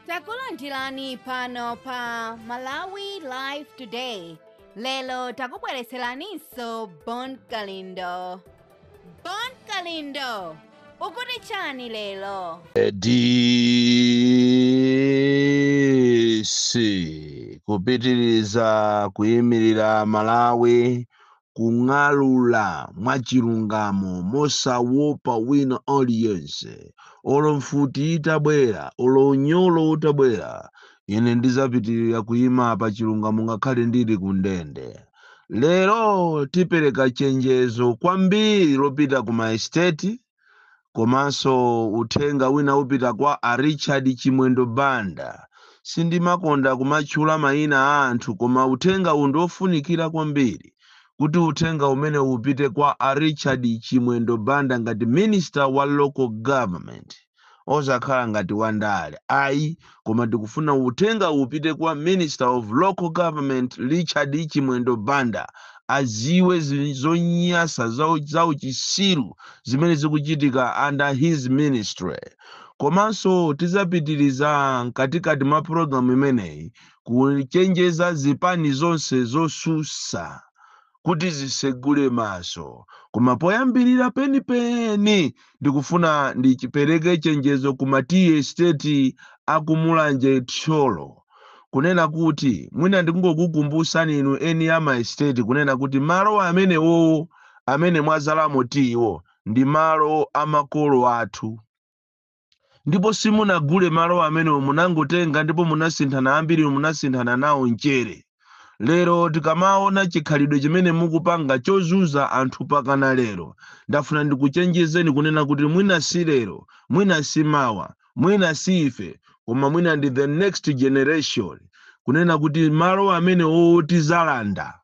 takulandirani pano pa malawi live today lero takubweretseraninso bon kalindo bon kalindo ukuti chani lero DC kupitiriza kuyimirira Malawi kung'alula mwachilungamo mosawopa wina aliyense. Olo mfuti itabwera, olo unyolo utabwera, ine ndizapitirira kuyima pa chilungamo ngakhale ndili ku ndende. Lero tipereka chenjezo kwambiri lopita ku maesteti, komanso uthenga wina upita kwa a richard chimwendo banda sindimakonda kumatchula mayina a anthu koma uthenga uwu ndiofunikira kwambiri kuti uthenga umene upite kwa a richard chimwendo banda ngati minister wa local government osakhala ngati wandale ayi koma tikufuna uthenga upite kwa minister of local government Richard chimwendo banda aziwe zi- zonyasa za uchisiru zimene zikuchitika under his ministry komanso tizapitiriza mkatikati mwa pulogalamu imeneyi kuchenjeza zipani zonse zosusa kuti zitsegule maso. Koma poyambirira penipeni ndikufuna ndipereke chenjezo ku ma tea estate a ku Mulanje, Thyolo, kunena kuti mwina ndikungokukumbutsani inu eni a ma estate kunena kuti malo amenewowo amene mwadzalamo tiyiwo ndi malo a makolo athu. ndipo simunagule malo amenewo munangotenga ndipo munasinthana ambiri munasinthana nawo mchere lero tikamaona chikhalidwe chimene mukupanga chozunza anthu pakana lero ndafuna ndikuchenjezeni kunena kuti mwina si lero mwina si mawa mwina si ife koma mwina ndi the next generation kunena kuti malo amenewo tizalanda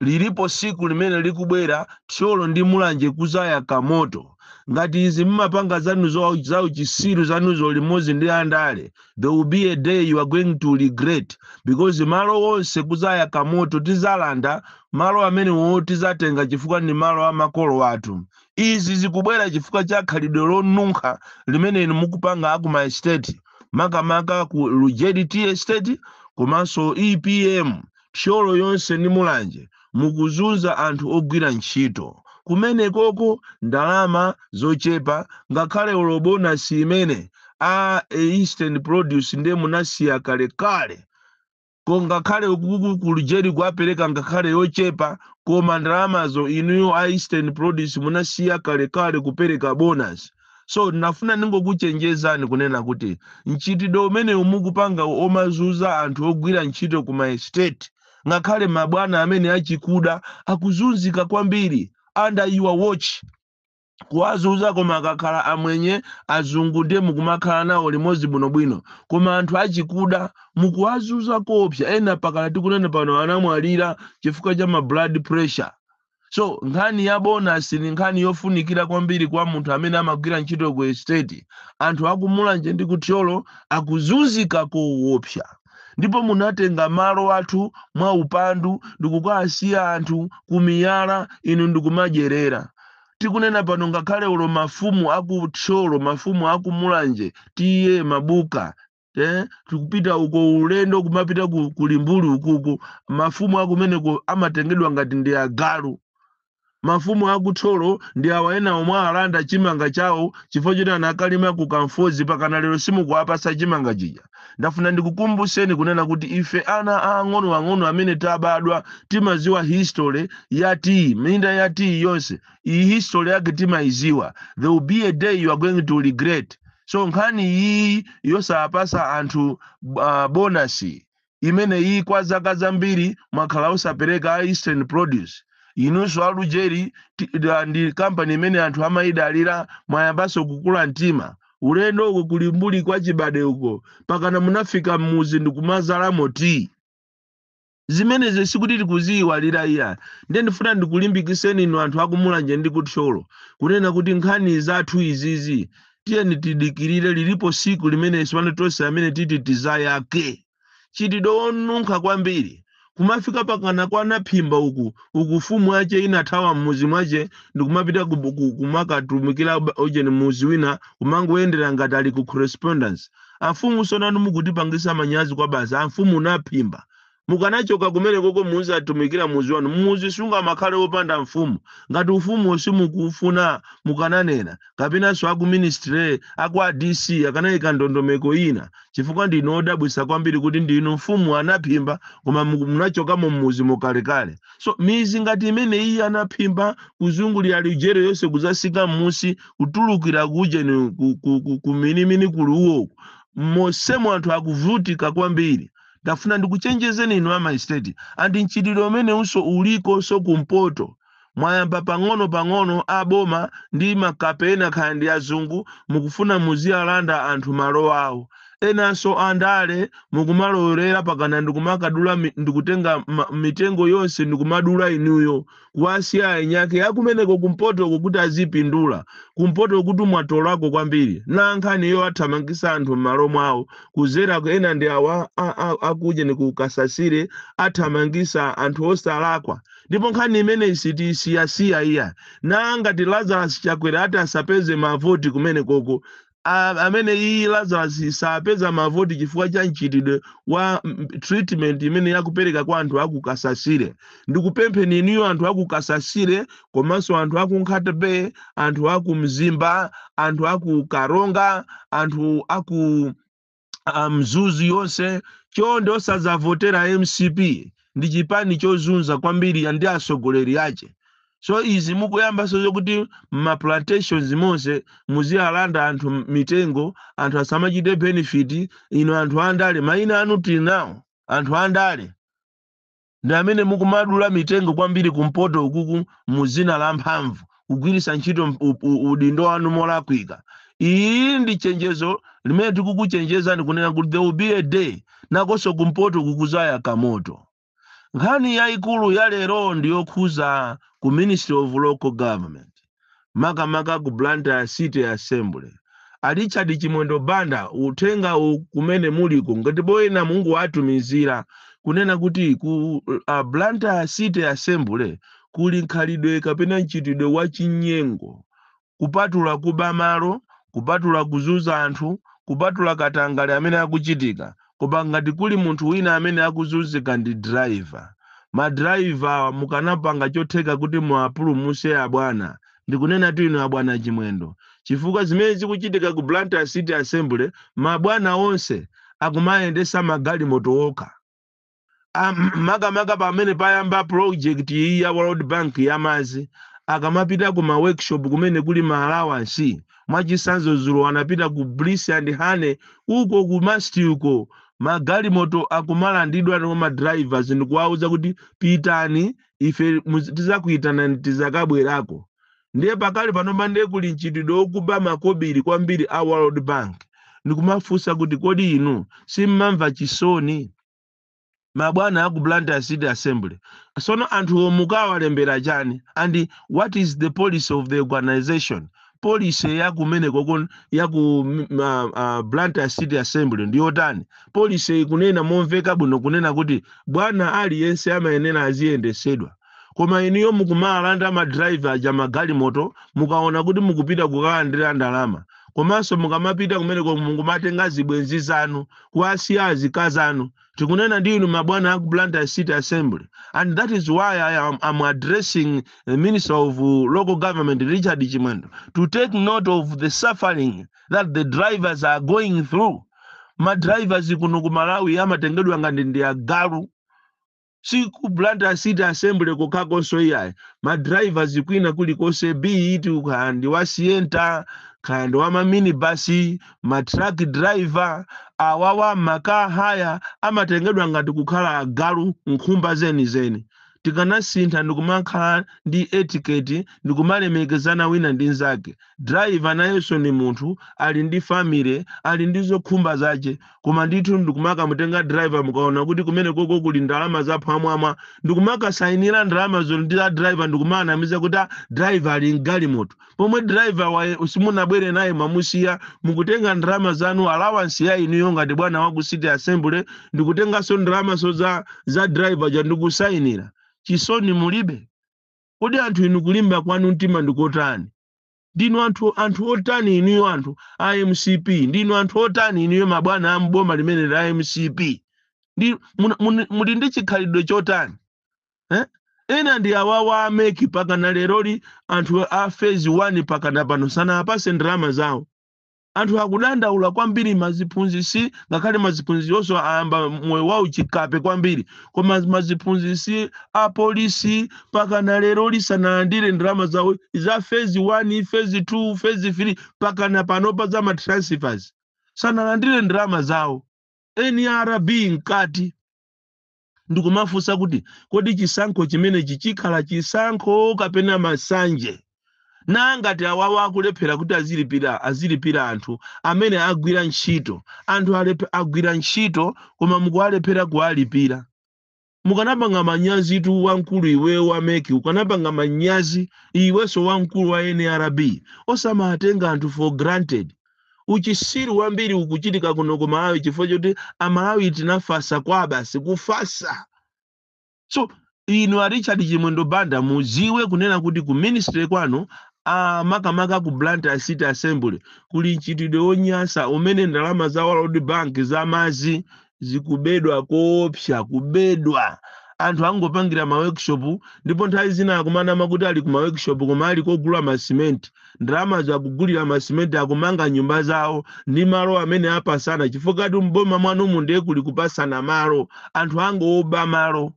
lilipo siku limene likubwera thyolo ndi mulanje kuzayaka moto ngati izi mmapanga zanu zo- za uchisiru zanuzo limodzi ndi andale there will be a day you are going to regret because malo onse kuzayaka moto tizalanda malo amenewo tizatenga chifukwa ndi malo a makolo athu izi zikubwera chifukwa cha khalidwe lonunkha limene inu mukupanga aku ma estate makamaka ku lujeri tea estate komanso epm Thyolo yonse ndi Mulanje mukuzunza anthu ogwira ntchito kumenekoko ndalama zochepa ngakhale olo bonasi imene a eastern produce nde munasiya kalekale ko ngakhale uku ku Lujeri akuapereka ngakhale yochepa koma ndalamazo inuyo a eastern produce munasiya kalekale kupereka bonasi. so nafuna ndingokuchenjezani kunena kuti mchitidwe umene mukupanga omazuza anthu ogwira ntchito ku maestate ngakhale mabwana amene achikuda akuzunzika kwambiri under your watch kuwazuza koma akakhala amwenye azungu ndiye mukumakhala nawo limodzi bwinobwino koma anthu achikuda mukuwazuza koopsa ena pakana tikunena pano anamwalira chifukwa cha ma blood pressure so nkhani ya bonasi ni nkhani yofunikira kwambiri kwa munthu amene amagwira ntchito ku estate anthu akumulanje ndi kuthyolo akuzunzika kowopsa ndipo munatenga malo athu mwa upandu ndikukawasiya anthu kumiyala inu ndikumadyerera tikunena pano ngakhale ulo mafumu aku thyolo mafumu aku mulanje T A mabuka eh, tikupita uko ulendo kumapita ku, ku limbuli ukuku mafumu akumeneko amatengedwa ngati ndi agalu mafumu akuthyolo ndi awa ena omwe alanda chimanga chawo chifukwa choti anakalima ku kamfozi pakana lero simukuwapasa chimanga chija ndafuna ndikukumbuseni kunena kuti ife ana aang'onoang'ono amene tabadwa timaziwa history ya tiyi minda ya tiyi yonse iyi history yake timayiziwa there will be a day you are going to regret so nkhani iyi yosapasa anthu uh, bonasi imene iyi kwa zaka zambiri mwakhala osapereka a eastern produce inunso alujeri ti- da- ndi kampani imene anthu amayidalira mwayambanso kukula mtima ulendo uko ku limbuli kwa chibade uko pakana munafika mmuzi ndikumazalamo tiyi zimenezi sikuti tikuziyiwalira iya ndiye ndifuna ndikulimbikiseni inu anthu akumulanje ndi kuthyolo kunena kuti nkhani zathu izizi tiyeni tidikirire lilipo siku limene sipano tonse amene titi tizayake mchitidwe wonunkha kwambiri kumafika pakana kwa naphimba uku mfumu yache inathawa mmuzi mwache ndikumapita ku- ku- kumakatumikira ujeni muzi wina kumangoyendera ngati ali ku correspondence Amfumu sonanu mukutipangisa manyazi kwabasi amfumu naphimba mukanachoka kumenekoko muziatumikila muzi wanu muzi sungamakhale opanda amfumu ngati ufumuwo simukuufuna mukananena kapenanso aku ministry akwa DC akanaika ndondomeko ina chifukwa ndinu odabwisa kwambiri kuti ndinu mfumu anaphimba koma muku munachokamo mmuzimo kalekale so mizi ngati imeneyiyi anaphimba kuzungulira lujeri yonse kuzasika mmusi kutulukira kujeni kuminimini ku, ku, ku, ku ruo mosemo anthu akuvutika kwambiri ndafuna ndikuchenjezeni inu ama estate andi mchitidwe umenewunso ulikonso kumpoto mwayamba pang'ono pang'ono aboma ndi ma- kapena kaya ndi azungu mukufuna muziwalanda anthu malo awo enanso andale mukumalowerera pakana ndikumakadula mi- ndikutenga ma- mitengo yonse ndikumadula inuyo kuwasiya aeni ake akumeneko kumpotoko kuti azipindula kumpoto kuti mwatolako kwambiri na nkhani iyo athamangisa anthu m'malo mwawo kuzera ku- ena ndi awa a- a- akujeni ku kasasire athamangisa anthu osalakwa ndipo nkhani imeneyi sitiyisiyasiya iya na ngati lazarus chakwera ati asapeze mavoti kumenekoko a, amene iyi Lazarus sazapeza mavoti chifukwa cha mchitidwe wa mm, treatment imene yakupereka kwa anthu aku Kasasire ndikupempheni inuyo anthu aku Kasasire komanso anthu aku Nkhata Bay anthu aku Mzimba anthu aku Karonga anthu aku a mzuzu yonse chonde osazavotera mcp ndi chipani chozunza kwambiri andi atsogoleri ache so izi mukuyambanso zokuti mmaplantations monse muziyalanda anthu m- mitengo anthu asamachite benefit ino anthu andale maina anu tinawo anthu andale ndi amene mukumadula mitengo kwambiri kumpoto ukuku mu dzina la mphamvu kugwiritsa ntchito mp- u- u- udindo wanu molakwika iyi ndi chenjezo limene tikukuchenjezani kunena kuti there will be a day nakonso kumpoto kukuzayaka moto nkhani yayikulu ya lero ndi yokhuza ku ministry of local government makamaka ku Blantyre City Assembly. A Richard Chimwendo Banda uthengawu kumene muliko ngati alipo ena mungowatumizira kunena kuti ku uh, Blantyre City Assembly kuli nkhalidwe kapena mchitidwe wa chinyengo kupatula kuba malo kupatula kuzuza anthu kupatula katangale amene akuchitika koma ngati kuli munthu wina amene akuzunzika ndi driver. Ma driver awa mukanapanga chotheka kuti muwapulumuse abwana. Ndikunenatu inu abwana Chimwendo. Chifukwa zimene zikuchitika ku Blantyre City Assembly mabwana onse akumayendesa magalimoto okha. Ah, m- makamaka pamene payamba project iyi ya world bank yamazi akamapita ku ma workshop kumene kuli ma allowance mwachisanzo zulo anapita ku bliss and honey uko ku masti uko magalimoto akumalandidwa kwa ma drivers ndikuwauza kuti pitani ife muzi- tizakuitanani tizakabwerako ndiye pakali panopa ndiye kuli mchitidwe wokuba makobiri kwambiri a world bank ndikumafunsa kuti kodi inu simmamva chisoni mabwana aku blantyre city assembly sono anthuwo mukawalembera chani and what is the policy of the organization policy yakumeneko kon- yaku mm, uh, uh, blantyre city assembly ndiyotani policy ikunena momveka bwino kunena kuti bwana aliyense amayenera aziyendesedwa koma inuyo mukumalanda ma driver aja magalimoto mukaona kuti mukupita kukalandira ndalama komanso mukamapita kumeneko mukumatenga zibwenzi zanu kuwasiya azikazi anu tikunena ndi inu mabwana aku blantyre city assembly and that is why i am I'm addressing the minister of uh, local government richard chimwendo to take note of the suffering that the drivers are going through madrivers kuno ku malawi amatengedwa ngati ndi agalu si ku blantyre city assembly kokhakonso iyayi ma drivers kwina kulikonse bt kaya ndi wa sienta kaya ndi wa maminibasi ma truck driver awawa makaka awa amatengedwa ngati kukhala agalu nkhumba zenizeni tikanasintha ndikumakhala ndi etiquette ndikumalemekezana wina ndi nzake driver nayenso ndi munthu ali ndi family ali ndi zokhumba zache koma ndithu ndikumakamutenga driver mukaona kuti kumene koko kuli ndalama zaphwamwamwa ndikumakasayinira ndalama zonse ndi a driver ndikumaanamiza kuti a driver ali mgalimoto pomwe driver wake simunabwere naye mwamusiya mukutenga ndalama zanu allowance ya inuyo ngati bwana wa ku city assembly ndikutenganso ndalamaso za driver ja ndikusayinira chisoni mulibe Kodi anthu inu kulimba kwanu mtima ndikotani? Ndinu anthu anthu otani inuyo anthu a mcp? Ndinu anthu otani inuyo mabwana a m'boma limene la mcp? Ndi, mun, mun, muli ndi chikhalidwe chotani? Eh? Ena ndi awawa a MEC pakana leroli anthu a phase 1 pakana pano sanaapase ndalama zawo. anthu akudandaula kwambiri maziphunzisi ngakhale maziphunzisiwonso ayamba moyo wauchikape kwambiri koma maziphunzisi apolisi pakana leroli sanalandire ndalama zawo za phase 1 phase 2 phase 3 pakana panopa za matransfers sanalandire ndalama zawo nrb mkati ndikumafunsa kuti kodi chisankho chimenechi chikhala chisankho kapena masanje nanga ngati awawa akulephera kuti azilipira azilipira anthu amene agwira ntchito anthu alepe- agwira ntchito koma mukuwalephera kuwalipira mukanapanga manyazitu wamkulu iwe wa mec ukanapanga manyazi iwenso wamkulu wa nrb osamatenga anthu for granted Uchisiru wambiri ukuchitika kuno ku Malawi chifukwa choti Amalawi tinafasa kwa basi kufasa. So inu a Richard Chimwendo Banda muziwe kunena kuti ku ministry kwanuko makamaka ku Blantyre City Assembly kuli mchitidwe wonyasa umene ndalama za World Bank za madzi zikubedwa koopsa kubedwa anthu akungopangira ma workshop ndipo nthawi zina akumanama kuti ali ku ma workshop koma ali kogula ma cement ndalamazo akugulira ma cement akumanga nyumba zawo ndi malo amene apasana chifukwatu mboma mwanumu ndiye kuli kupasana malo anthu akungoba malo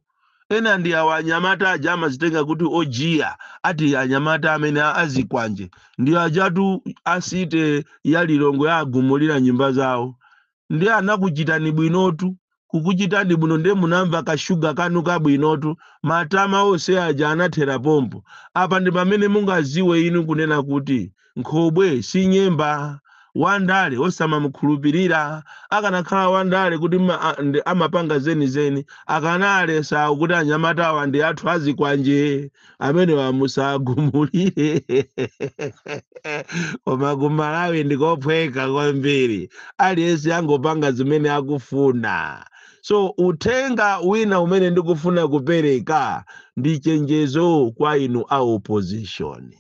ena ndi awa anyamata aja amazitenga kuti ojiya ati anyamata amene a- azikwanje ndi ajatu a city ya lilongwe agumulira nyumba zawo ndiye anakuchitani bwinotu kukuchitani bwino ndiye munamva kashuga kanu kabwinotu matama onse aja anathera pompo apa ndi pamene mungaziwe inu kunena kuti nkhobwe si nyemba wandale osamamukhulupirira akanakhala wandale kuti ma- a- ndi- amapanga zenizeni akanalesa kuti anyamatawa ndi athu azikwanje amenewa musagumulire koma ku malawi ndikophweka kwambiri aliyense angopanga zimene akufuna so uthenga wina umene ndikufuna kupereka ndi chenjezo kwa inu a opposition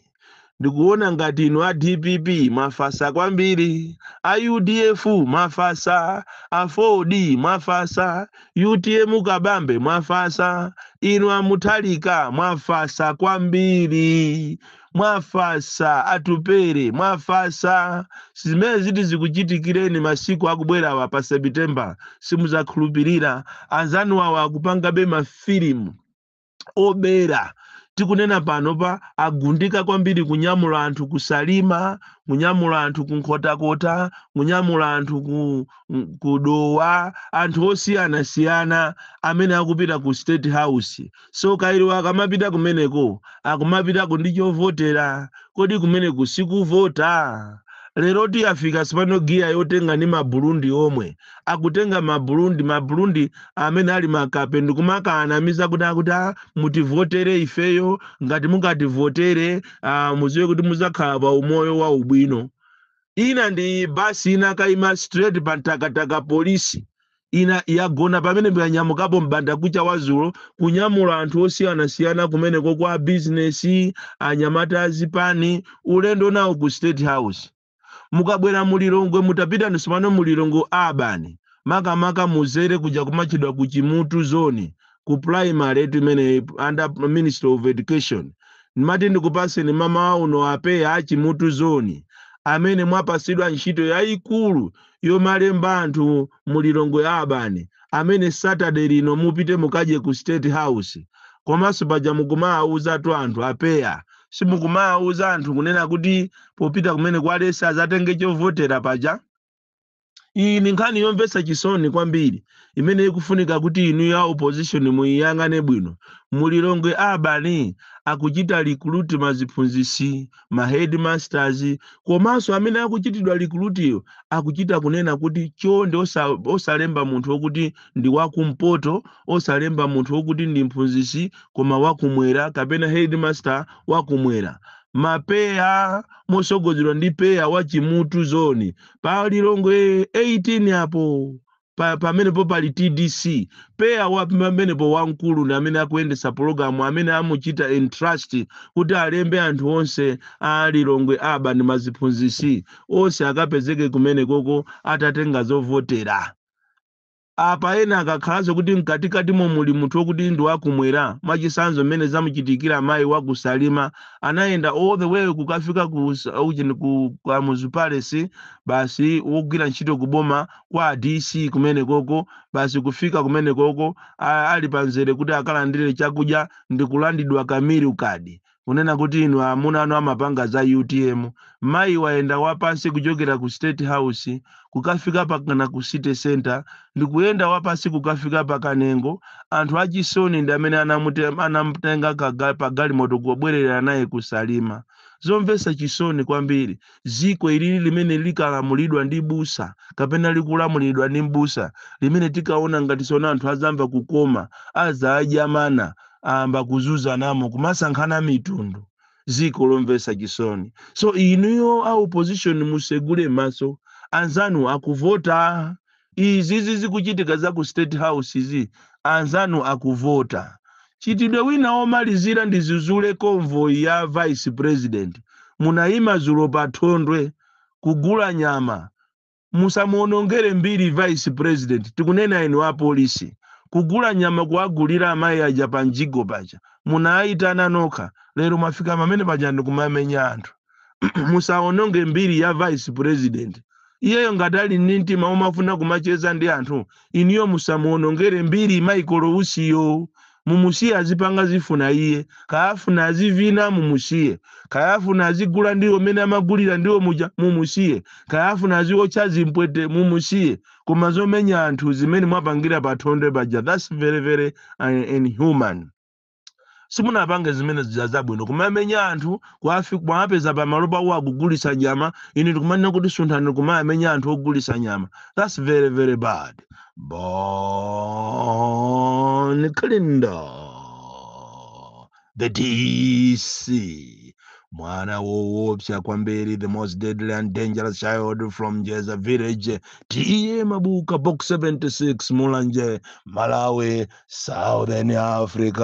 ndikuona ngati inu a dpp mwafasa kwambiri a udf mwafasa aford mwafasa utm kabambe mwafasa inu a mutharika mwafasa kwambiri mwafasa atupere mwafasa zimene ziti zikuchitikireni masiku akubwerawa pa september simuzakhulupirira anzanuwawa akupangabe mafilimu obera tikunena panopa agundika kwambiri kunyamula anthu ku salima kunyamula anthu ku nkhotakota kunyamula anthu ku, m- ku dowa anthu osiyanasiyana amene akupita ku state house so kairo akamapita kumeneko akumapitako ndi chovotera kodi kumeneko sikuvota lero tayafika sopano giya yotenga ndi maburundi omwe akutenga mabulundi mabulundi amene ali makape ndikumakanamiza kuti akuti "Ah, mutivotere ifeyo ngati mukativotere ah, muziwe kuti muzakhala pa umoyo wa ubwino ina ndi basi inakaima straight pa mtakataka polisi ina yagona pamene yanyamukapo mbanda kucha wazulo kunyamula anthu osiyanasiyana kumeneko kwa bizinesi anyamata azipani ulendo nawo ku state house mukabwera mu lilongwe mutapita ni sopano mu lilongwe urban makamaka mudzere kuja kumatchedwa ku chimutu zone ku primary eti imene under ministry of education ndimati ndikupaseni mama inu a pea a chimutu zone amene mwapasidwa ntchito yayikulu yomalemba anthu mu lilongwe urban amene saturday lino mupite mukadye ku state house komanso paja mukumaawuzatu anthu a pea simukumawauza anthu kunena kuti popita kumene kwa leza azatenge chovotera paja iyi ni nkhani yomvetsa chisoni kwambiri imene ikufunika kuti inu ya opposition muyiyang'ane bwino mu lilongwe urban akuchita recruit maziphunzisi ma headmasters komanso amene akuchitidwa recruit-yo akuchita kunena kuti chonde osa- osalemba munthu wokuti ndi wa kumpoto osalemba munthu wokuti ndi mphunzitsi koma wa kumwera kapena headmaster wa kumwera ma pea motsogozedwa ndi pea wa chimutu zone pa lilongwe 18 apo pa- pamenepo pali tdc pea wa pamenepo wamkulu ndi amene akuyendetsa pologalamu amene amuchita entrust kuti alembe anthu onse a lilongwe urban ndi maziphunzitsi onse akapezeke kumenekoko atatenga zovotera Apa ena akakhalanso kuti mkatikatimo muli munthu wokuti ndi wa kumwera, mwachisanzo mmene zamuchitikira mayi wa ku Salima anayenda all the way kukafika ku ujeni ku Kamuzu Palace basi wogwira ntchito ku boma kwa a DC kumenekoko basi kufika kumenekoko a- ali pa mzere kuti akalandire chakudya ndi kulandidwa ka meal card kunena kuti inu amuna anu amapanga za utm mayi wayenda wapansi kuchokera ku state house kukafika mpakana ku city center ndikuyenda wapansi kukafika pa kanengo anthu achisoni ndi amene anamute- anamutenga kaga- pagalimoto kubwerera naye ku salima zomvetsa chisoni kwambiri Dziko ilili limene likalamulidwa ndi busa kapena likulamulidwa ndi mbusa, limene tinkaona ngati tsono anthu adzamva kukoma, adzadya mana, ayamba kuzunzanamo, kumasankhana mitundu. Dziko lomvetsa chisoni. So inuyo a opposition musegule maso, anzanu akuvota. Izizi zikuchitika za ku state house izi anzanu akuvota. Mchitidwe wina omalizira ndidzudzule convoy ya vice president munayima zulo pa Thondwe kugula nyama. Musamuonongere mbiri vice president tikunena inu a police. Kugula nyama kuwagulira amayi aja pa mjigo paja munaayitana nokha lero mwafika pamene paja ndi kumamenya anthu. musaononge mbiri ya vice president iyeyo ngati ali ndi mtima omafuna kumacheza ndi anthu inuyo musamuonongere mbiri michael usiyo mumusiye azipanga zifuna iye kaya afuna azivina mumusiye kaya afuna azigula ndiwo mene amagulira ndiwo muja mumusiye kaya afuna aziwotcha zimpwete mumusiye koma zomenya anthu zimene mwapangira pa thondwe paja thats very very uh, inhuman simunapange zimene zija zabwino kumamenya anthu kuwafi- kuwapeza pamalo pawo akugulitsa nyama ine ndikumanena kuti sunthani kumayamenya anthu ogulitsa nyama thats very very bad bon kalindo the dc mwana woopsa kwambiri the most deadly and dangerous child from njedza village ta mabuka box 76 mulanje malawi Southern Africa.